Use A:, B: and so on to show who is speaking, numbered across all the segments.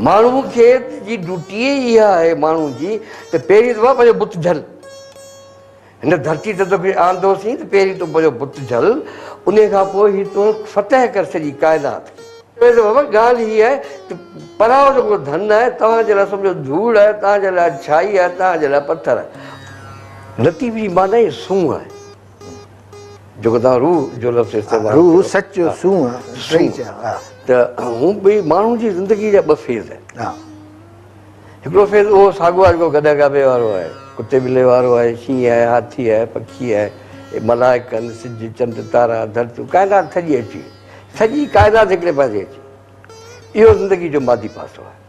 A: ماڻهو کي جي ڊوٽي ئي اها آهي ماڻهو جي ته پهرين دفعا پنهنجو بت جهل هن ڌرتي تي توکي آندو سين ته پهرين تون پنهنجو بت جهل ان کان پوء هي تون فتح ڪر سڄي ڪائنات کي پهرين دفعا بابا ڳالهه هي آهي ته پراهو جو ڪو ڌن آهي توهان جي لاء سمجهو ڌوڙ آهي توهان جي لاء ڇائي آهي توهان جي لاء پٿر آهي لطيف جي معنيٰ ئي سونهن آهي. جيڪو توهان روح جو لفظ استعمال ڪيو. روح، سچ ۽ سونهن
B: ٽئي چئا. ته
A: هو ٻئي ماڻهو جي زندگي جا ٻه فيز آهن. هڪڙو فيز اهو ساڳو آهي جيڪو گڏهه گابي وارو آهي، ڪتي ٻلي وارو آهي، شينهن آهي، هاٿي آهي، پکي آهي، ملائڪن، سج، چنڊ، تارا، ڌرتيون، ڪائنات سڄي اچي وئي. سڄي ڪائنات هڪڙي پاسي اچي وئي. اهو زندگي جو مادي پاسو آهي.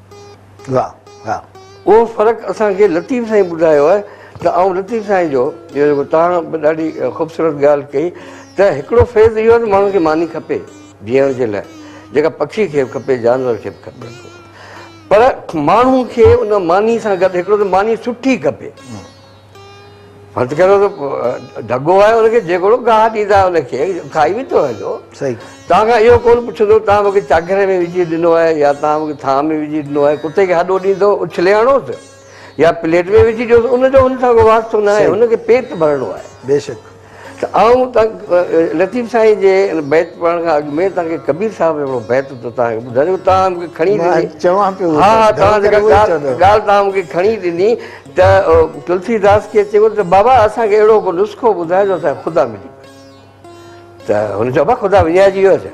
A: واه واه اهو فرق اسان کي لطيف سائين ٻڌايو آهي ته آئون لطيف سائين جو جيڪو توهان به ڏاڍي خوبصورت ڳالهه ڪئي ته هڪڙو فيض اهو آهي ته ماڻهو کي ماني کپي جيئڻ جي لاء جيڪا پکي کي به کپي جانور کي به کپي پر ماڻهو کي ان ماني سان گڏ هڪڙو ته ماني سٺي کپي فرض ڪريو ته ڍڳو آهي ان کي جيڪڙو گاهه ڏيندا ان کي کائي ويندو آهي جو صحيح تان کان اهو ڪون پڇندو تان مونکي چاگهري ۾ وجهي ڏنو آهي يا تان مونکي ٿانء ۾ وجهي ڏنو آهي ڪتي کي هڏو ڏيندو اڇلي هڻوس يا پليٽ ۾ وجهي ڏيوس ان جو هن سان ڪو واسطو نه آهي هن کي پيٽ ڀرڻو آهي بيشڪ ته آئون لطيف سائين جي ان بيت پڙهڻ کان اڳ ۾ توهان کي ڪبير صاحب جو هڪڙو بيت ٿو توهان کي ٻڌايو توهان مون کي کڻي ڏني مان چوان پيو ها ها توهان جيڪا ڳالهه ڳالهه توهان مون کي کڻي ڏني ته تلسي داس کي چيو ته بابا اسان کي اهڙو ڪو نسخو ٻڌاء جو اسان کي خدا ملي پئي ته هن چيو بابا خدا وڃائجي ويو آهي ڇا؟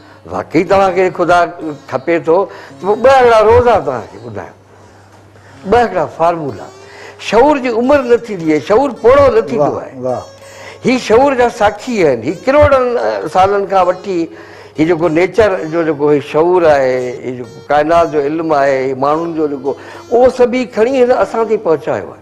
A: واقعي توهان کي خدا کپي ٿو ته پوء ٻه هڪڙا روزا توهان کي ٻڌايان ٻه هڪڙا فارمولا شعور جي عمر نه ٿيندي آهي شعور پوڙهو نه ٿيندو آهي هي شعور جا ساکي آهن هي ڪروڙن سالن کان وٺي هي جيڪو نيچر جو جيڪو هي شعور آهي هي جيڪو ڪائنات جو علم آهي ماڻهن جو جيڪو اهو سڀ هي کڻي هن اسان تائين پهچايو آهي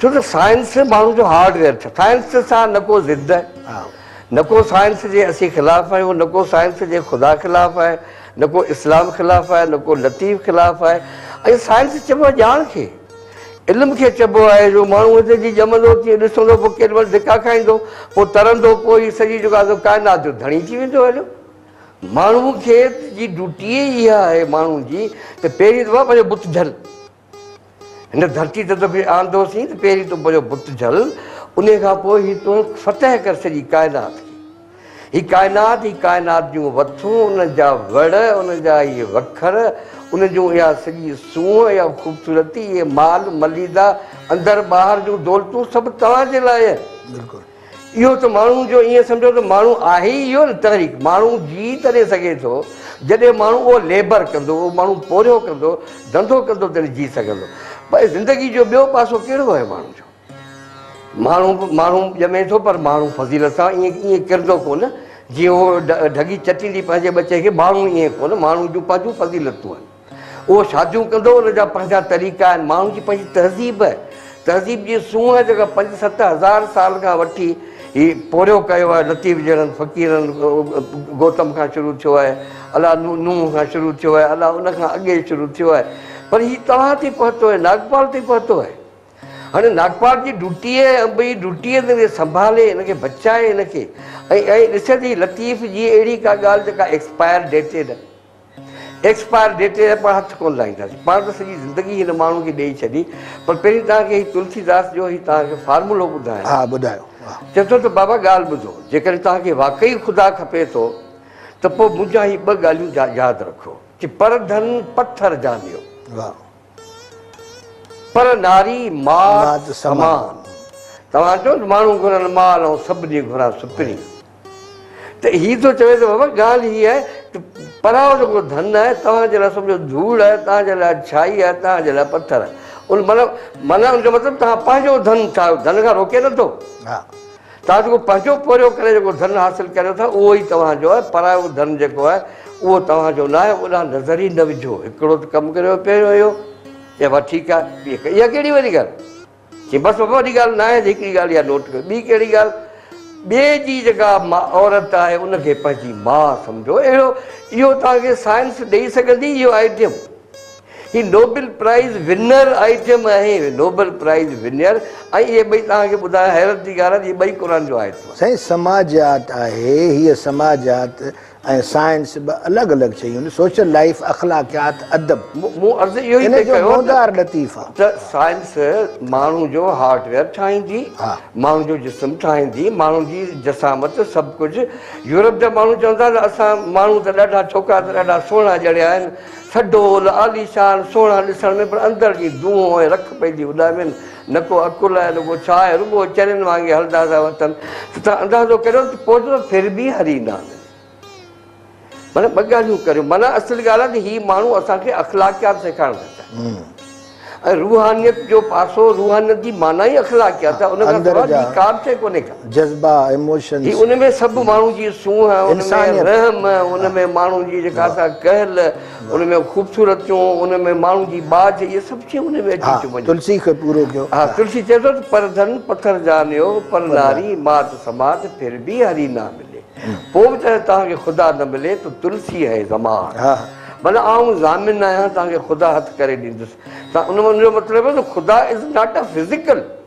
A: ڇو ته سائنس ماڻهو جو هارڊ ويئر ڇا سائنس سان نه ڪو ضد نه ڪو سائنس جي اسين خلاف آهيون نه ڪو سائنس جي خدا خلاف آهي نه ڪو اسلام خلاف آهي نه ڪو لطيف خلاف آهي ۽ سائنس چئبو آهي ڄاڻ کي علم کي چئبو آهي جو ماڻهو هتي جي ڄمندو تيئن ڏسندو پوء ڪيڏي مهل ڌڪا کائيندو پوء ترندو پوء هي سڄي جيڪو آهي ڪائنات جو ڌڻي ٿي ويندو هليو ماڻهو کي جي ڊيوٽي ئي اها آهي ماڻهو جي ته پهرين دفعا پنهنجو بت جھل هن ڌرتي تي توکي آندوسين ته پهرين تون پنهنجو بت جهل، انهيء کان پوء هي تون فتح ڪر سڄي ڪائنات کي. هي ڪائنات، هي ڪائنات جون وٿون، انهن جا وڙ، انهن جا اهي وکر، انهن جون اها سڄي سونهن، اها خوبصورتي، اهي مال، مليده، اندر ٻاهر جون دولتون سڀ توهان جي لاء آهن. بلڪل. اهو ته ماڻهو جو ائين سمجهو ته ماڻهو آهي ئي اهو نه تحريڪ ماڻهو جي تڏهن سگهي ٿو جڏهن ماڻهو اهو ليبر ڪندو اهو ماڻهو پورهيو ڪندو ڌنڌو ڪندو تڏهن جي سگهندو پر زندگي جو ٻيو پاسو ڪهڙو آهي ماڻهو جو ماڻهو ماڻهو ڄمي ٿو پر ماڻهو فضيلت سان ائين ائين ڪرندو ڪونه جيئن اهو ڍڳي چٽيندي پنهنجي ٻچي کي ماڻهو ائين ڪونه ماڻهو جون پنهنجون فضيلتون آهن اهو شاديون ڪندو ان جا پنهنجا طريقا آهن ماڻهن جي پنهنجي تهذيب تهذيب جي سونهن جيڪا پنج ست هزار سال کان وٺي هي پورهيو ڪيو آهي لطيف جهڙن فقيرن گوتم کان شروع ٿيو آهي الاء نوح کان شروع ٿيو آهي الاء ان کان اڳي شروع ٿيو آهي پر هي توهان تي پهتو آهي ناگپال تي پهتو آهي هاڻي ناگپال جي ڊوٽي آهي انبئي ڊوٽي آهي ته سنڀالي ان کي بچائي ان کي ۽ ڏسي ته لطيف جي اهڙي ڪا ڳالهه جيڪا ايڪسپائر ڊيٽيڊ ايڪسپائر ڊيٽ تي اسان هٿ ڪونه لائينداسين. پاڻ ته سڄي زندگي هن ماڻهو کي ڏيئي ڇڏي پر پهرين توهان کي هي تلسي داس جو هي توهان کي فارمولو ٻڌايان. ها ٻڌايو. چئي ٿو ته بابا ڳالهه ٻڌو جيڪڏهن توهان کي واقعي خدا کپي ٿو ته پوء منهنجا هي ٻه ڳالهيون ياد رکو. چي پر ڌن پٿر جانيو. واهه.
B: پر
A: ناري مات سمان. توهان چئو ته ماڻهو گهرن مال ۽ سڀ ڏينهن گهران سپري. ته هي ٿو چوي ته بابا ڳالهه هي آهي ته پراء جيڪو ڌن آهي توهان جي لاء سمجهو ڌوڙ آهي توهان جي لاء ڇائي آهي توهان جي لاء پٿر آهي ان معنيٰ معنيٰ ان جو مطلب توهان پنهنجو ڌن ٺاهيو ڌن کان روڪي نه ٿو
B: توهان جيڪو
A: پنهنجو پورهيو ڪري جيڪو ڌن حاصل ڪريو ٿا اهو ئي توهان جو آهي پرايو ڌن جيڪو آهي اهو توهان جو ناهي اوڏانهن نظر ئي نه وجهو هڪڙو ته ڪم ڪريو پهريون اهو چئبو آهي ٺيڪ آهي ٻي اها ڪهڙي وڏي ڳالهه چي بس بابا وڏي ڳالهه ناهي هڪڙي ڳالهه اها نوٽ ڪيو ٻي ڪهڙي ڳالهه ٻئي جي جيڪا عورت آهي ان کي پنهنجي ماء سمجهو اهڙو اهو توهان کي سائنس ڏئي سگهندي اهو آئٽم هي نوبل پرائز ونر آئٽم آهي نوبل پرائز ونر ۽ اهي ٻئي توهان کي ٻڌايان حيرت جي ڳالهه آهي ته اهي ٻئي قرآن جو آيتون آهن. سائين سماجيات
B: آهي هيء سماجيات. ۽ سائنس ٻه الڳ الڳ شيون آهن، سوشل لائيف، اخلاقيات، ادب. مون عرض اهو ئي
A: پئي
B: ڪيو
A: ته
B: سائنس
A: ماڻهو جو هارڊ ويئر ٺاهيندي، ماڻهو جو جسم ٺاهيندي، ماڻهو جي جسامت سڀ ڪجهه. يورپ جا ماڻهو چون ٿا ته اسان ماڻهو ته ڏاڍا ڇوڪرا ته ڏاڍا سهڻا ڄڻيا آهن، سڊول، عاليشان، سهڻا ڏسڻ ۾ پر اندر جي دونهون ۽ رک پئي ٿي اڏامين. نه ڪو عقل آهي نه ڪو ڇا آهي رڳو چرين وانگي هلندا ٿا وتن ته توهان اندازو ڪريو ته پوئتو ڦر به هري ايندا آهن معنيٰ ٻه ڳالهيون ڪريو معنيٰ اصل ڳالهه آهي ته هي ماڻهو اسان کي اخلاقيات سيکارڻ ٿا چاهن ۽ روحانيت جو پاسو روحانيت جي معنيٰ ئي اخلاقيات آهي ان کان سواء ٻي ڪا به شيء ڪونهي ڪا جذبا ايموشنز
B: هي ان ۾ سڀ ماڻهو
A: جي سونهن ان ۾ رحم ان ۾ ماڻهو جي جيڪا سا ڪهل ان ۾ خوبصورتيون ان ۾ ماڻهو جي ٻاجهه اهي سڀ شيون ان ۾ اچي ٿيون وڃن تلسي کي پورو ڪيو ها
B: تلسي چئي ٿو ته
A: پر ڌن پٿر جانيو پر ناري مات سمات ڦر به هري نه ملي پوء به جڏهن توهان کي خدا نه ملي تو تلسي هي زمان معنيٰ آئون ضامن آهيان توهان کي خدا هٿ ڪري ڏيندس ان جو مطلب هو ته خدا از ناٽ اي فزيڪل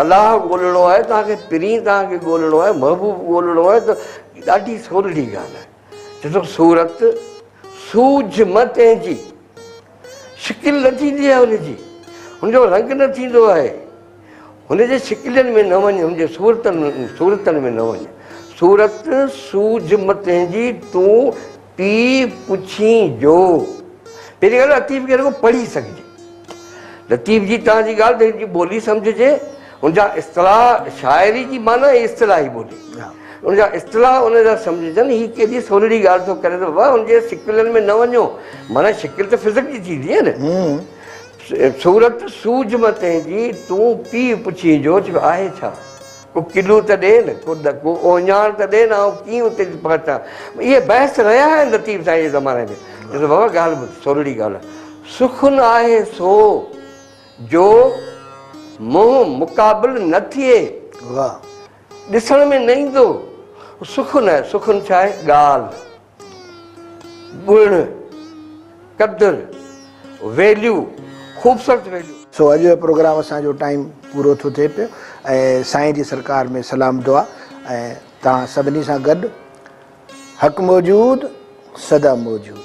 A: الله ڳولڻو آهي توهان کي پرين توهان کي ڳولڻو آهي محبوب ڳولڻو آهي ته ڏاڍي سولڙي ڳالهه آهي ڏٺو صورت سوجھ م تنهنجي شڪل نه ٿيندي آهي هن جي هن جو رنگ نه ٿيندو آهي هن جي شڪلين ۾ نه وڃ هن جي صورتن صورتن ۾ نه وڃ صورت سوجھ م تنهنجي تون پيء پڇين جو، پهرين ڳالهه لطيف کي رڳو پڙهي سگهجي. لطيف جي توهان جي ڳالهه ته هن جي ٻولي سمجهجي، هن جا اصطلاح شاعري جي معنيٰ ۽ اصطلاحي ٻولي. هن جا اصطلاح ان جا سمجهجن، هي ڪيڏي سولڙي ڳالهه ٿو ڪري ته بابا هن جي سڪلن ۾ نه وڃو، معنيٰ شڪل ته فزڪ جي ٿيندي آهي نه. صورت سوجهه مان تنهنجي، تون پيء پڇين جو، چيو آهي ڇا؟ ڪو ڪلو ته ڏي نه، ڪو ڏڪو اوهڃاڻ ته ڏي نه، آئون ڪيئن اتي ٿي پهچان. اهي بحث رهيا آهن لطيف سائين جي زماني ۾. چيس ته بابا ڳالهه ٻڌ، سولڙي ڳالهه آهي. سخن آهي سو جو منهن مقابل نه ٿئي. واهه. ڏسڻ ۾ نه ايندو. سخن آهي، سخن ڇا آهي؟ ڳالهه. گڻ، قدر، Value، خوبصورت Value. سو اڄ جو پروگرام
B: اسان جو ٽائيم پورو ٿو ٿئي پيو ۽ سائين جي سرڪار ۾ سلام دعا ۽ توهان سڀني سان گڏ حق موجود سدا موجود.